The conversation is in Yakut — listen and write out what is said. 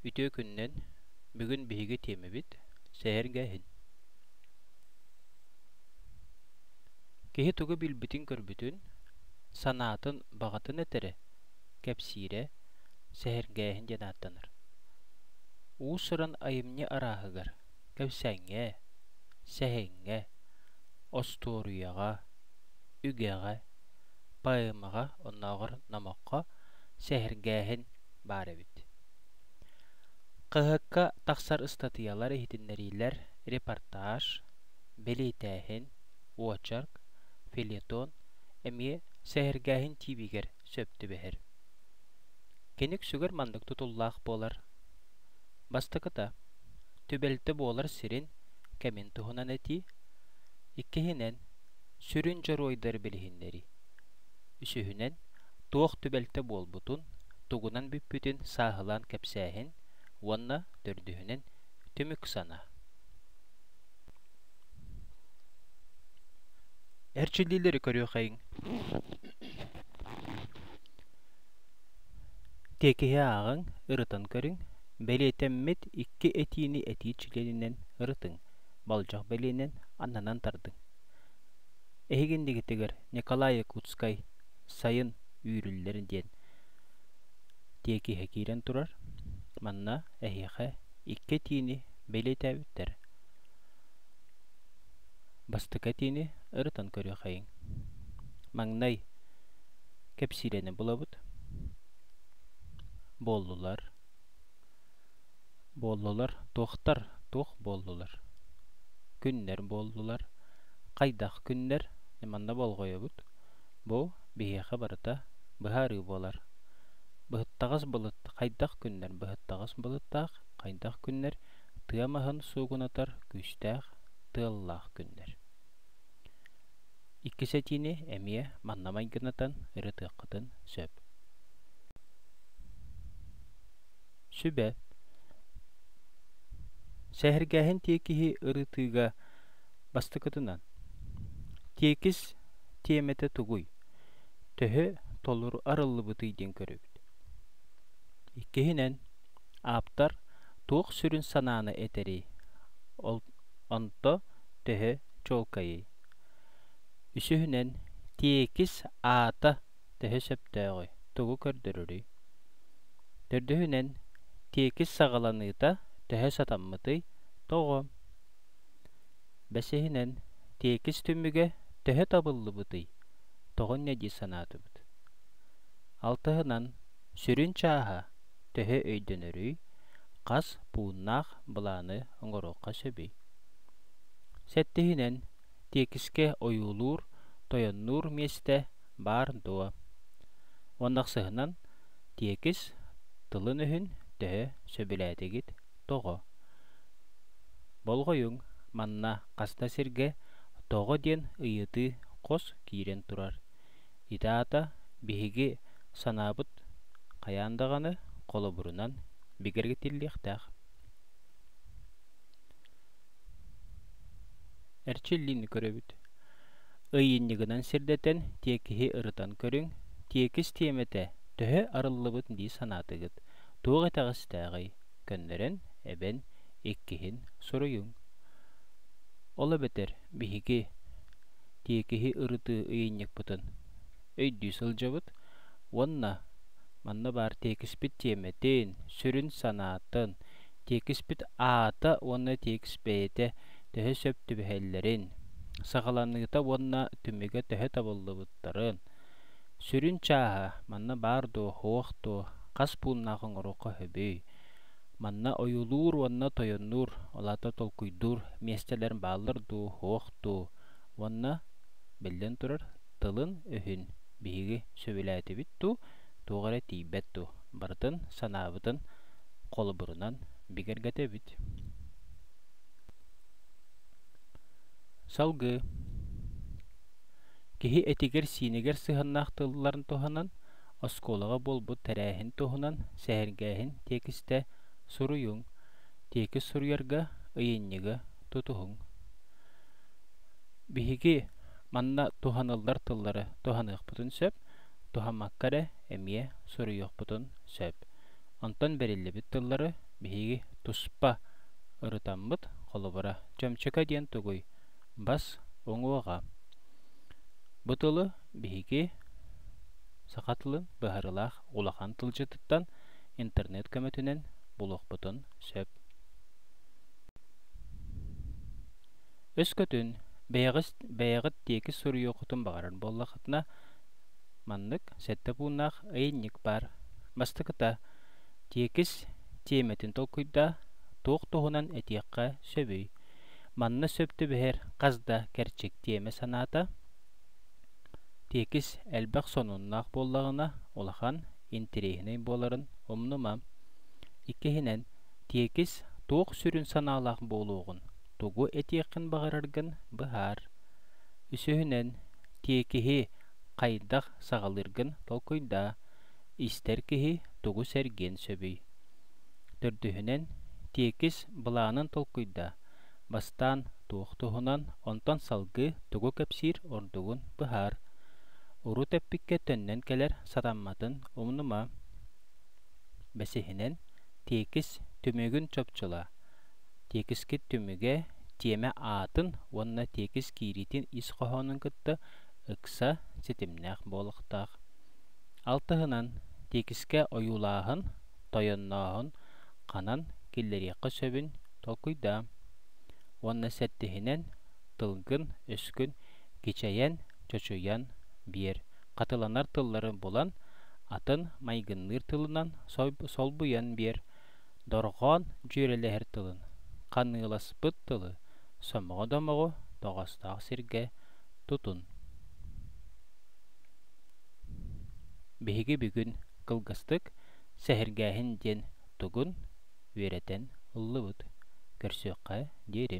Үтүө күннэн, бүгүн биһиги тиэмэбит сэһэргэ иһин. Киһи тугу билбитин-көрбүтүн, санаатын баҕатын этэрэ, кэпсиирэ, сэһэргээһин диэн ааттанар. Уус-уран айымньы арааһыгар Кэпсэҥҥэ, сэһэҥҥэ, остуоруйаҕа, үгэҕэ, поэмаҕа, оннооҕор номоххо сэһэргээһин баар эбит. КХК тахсар ыстатыйалар иһитиннэриилэр, репортаж, бэлиэтээһин, очерк, фельетон эмиэ сэһэргээһин тиибигэр сөп түбэһэр. Киник сүгэр маннык тутуллаах буолар. Бастакыта, түбэлтэ буолар сирин кэмин туһунан этии. Иккиһинэн, сүрүн дьоруойдары билиһиннэрии. Үсүһүнэн, туох түбэлтэ буолбутун, тугунан бүппүтүн сааһылаан кэпсээһин. Уонна төрдүһүнэн, түмүк санаа. эрчиллиилэри көрүөххэйиҥ тиэкиһи ааҕыҥ ырытан көрүҥ бэлиэтэммит икки этиини этии чилиэнинэн ырытыҥ болдьох бэлиэнэн аннынан тардыҥ эһиги иннигитигэр николай якутскай сайын үүрүллэр диэн тиэкиһэ киирэн турар манна эһиэхэ икки этиини бэлиэтээбиттэр. Бастакы этиини ырытан көрүөххэйиҥ. Маҥнай кэпсиилэни булабыт. Буоллулар. Буоллулар. Туохтар? Туох буоллулар? Күннэр буоллулар. Хайдах күннэр? Манна болҕойобут. Бу биһиэхэ барыта быһаарыы буолар. Быһыттаҕас былыт хайдах күннэр быһыттаҕас былыттаах, хайдах күннэр тыа маһын суугунатар күүстээх, тыаллаах күннэр. Иккис этиини эмиэ манна майгынатан ырытыаххытын сөп. Сүбэ. Сэһэргээһин тиэкиһи ырытыыга Бастакытынан, тиэкис тиэмэтэ тугуй, төһө толору арыллыбытый диэн көрөбүт. Иккиһинэн, ааптар туох сүрүн санааны этэрий, ол онто төһө чуолкайый? Үсүһүнэн, тиэкис аата төһө сөптөөҕүй, тугу көрдөрөрүй? Төрдүһүнэн, тиэкис саҕаланыыта төһө сатаммытый, тоҕо? Бэсиһинэн, тиэкис түмүгэ төһө табыллыбытый, тоҕун нэ дии санаатыбыт. Алтыһынан, сүрүн чааһа төһө өйдөнөрүй, хас пууннаах былааны оҥоруохха сөбүй? Сэттиһинэн, тиэкискэ ойуулуур, тойоннуур миэстэ баар дуо? Уон тахсыһынан, тиэкис тылын-өһүн төһө сөбүлээтигит? Тоҕо? Болҕойуҥ, манна хас да сиргэ тоҕо диэн ыйытыы хос киирэн турар. Ити аата биһиги санаабыт хайаан даҕаны холобурунан бигэргэтиллиэхтээх. Эрчиллиини көрөбүт. Ыйынньыгынан сирдэтэн тиэкиһи ырытан көрүҥ, тиэкис тиэмэтэ төһө арыллыбыт дии санаатыгыт? туох итэҕэстээҕий көннөрөн эбэн иккиһин суруйуҥ ол эбэтэр биһиги тиэкиһи ырытыы ыйынньыкпытын өйдүү сылдьабыт уонна манна баар тиэкиспит тиэмэтин сүрүн санаатын тиэкиспит аата уонна тиэкис бэйэтэ төһө сөп түбэһэллэрин саҕаланыыта уонна түмүгэ төһө табыллыбыттарын Сүрүн чааһа манна баар дуо, суох дуо, хас пууннаах оҥоруохха сөбүй? Манна ойуулуур уонна тойоннуур, ол аата толкуйдуур миэстэлэр бааллар дуу, суох дуу? Уонна, биллэн турар, тылын-өһүн биһиги сөбүлээтибит дуу, туох эрэ тиийбэт дуу, барытын санаабытын холобурунан бигэргэтэбит. Салгыы Киһи этигэр-сиинигэр сыһыаннаах тылларын туһанан, оскуолаҕа буолбут тэрээһин туһунан сэһэргээһин тиэкистэ суруйуҥ, тиэкис суруйарга, ыйынньыга тутуһуҥ. Биһиги манна туһаныллар тыллары туһаныахпытын сөп, туһаммакка эрэ эмиэ суруйуохпутун сөп. Онтон бэриллибит тыллары биһиги туспа ырытаммыт, холобура, чөмчөкө диэн тугуй? Бас уҥуоҕа. Бу тылы биһиги саха тылын быһаарыылаах улахан тылдьытыттан интернет көмөтүнэн булуохпутун сөп. Өскөтүн бэйэҕит, бэйэҕит тиэкис суруйуоххутун баҕарар буоллахытына, маннык сэттэ пууннаах ыйынньык баар. Бастакыта, тиэкис тиэмэтин толкуйдаа, туох туһунан этиэххэ сөбүй? Манна сөп түбэһэр хас да кэрчик тиэмэ санаата тиэкис элбэх сонуннаах буоллаҕына улахан интириэһинэй буоларын умнума. Иккиһинэн, тиэкис туох сүрүн санаалаах буолуоҕун, тугу этиэххин баҕараргын быһаар. Үсүһүнэн, тиэкиһи хайдах саҕалыыргын толкуйдаа. Истэр киһи тугу сэргиэн сөбүй? Төрдүһүнэн, тиэкис былаанын толкуйда. Бастаан туох туһунан, онтон салгыы тугу кэпсиир ордугун быһаар. Урут эппиккэ төннөн кэлэр сатамматын умнума. Бэсиһинэн, тиэкис түмүгүн чопчула. Тиэкискит түмүгэ, тиэмэ аатын уонна тиэкис киириитин ис хоһоонун кытта ыкса ситимнээх буолуохтаах. Алтыһынан, тиэкискэ ойуулааһын тойоннооһун ханан киллэриэххэ сөбүн толкуйдаам уонна сэттиһинэн тылгын-өскүн кичэйэн, чочуйан биэр, хатыланар тыллары булан, атын майгынныыр тылынан солбуйан биэр, дорҕоон дьүөрэлэһэр тылын, ханыыласпыт тылы сомоҕо домоҕу тоҕостоох сиргэ тутун. Биһиги бүгүн кылгастык сэһэргээһин диэн тугун үөрэтэн ыллыбыт көрсүөххэ диэри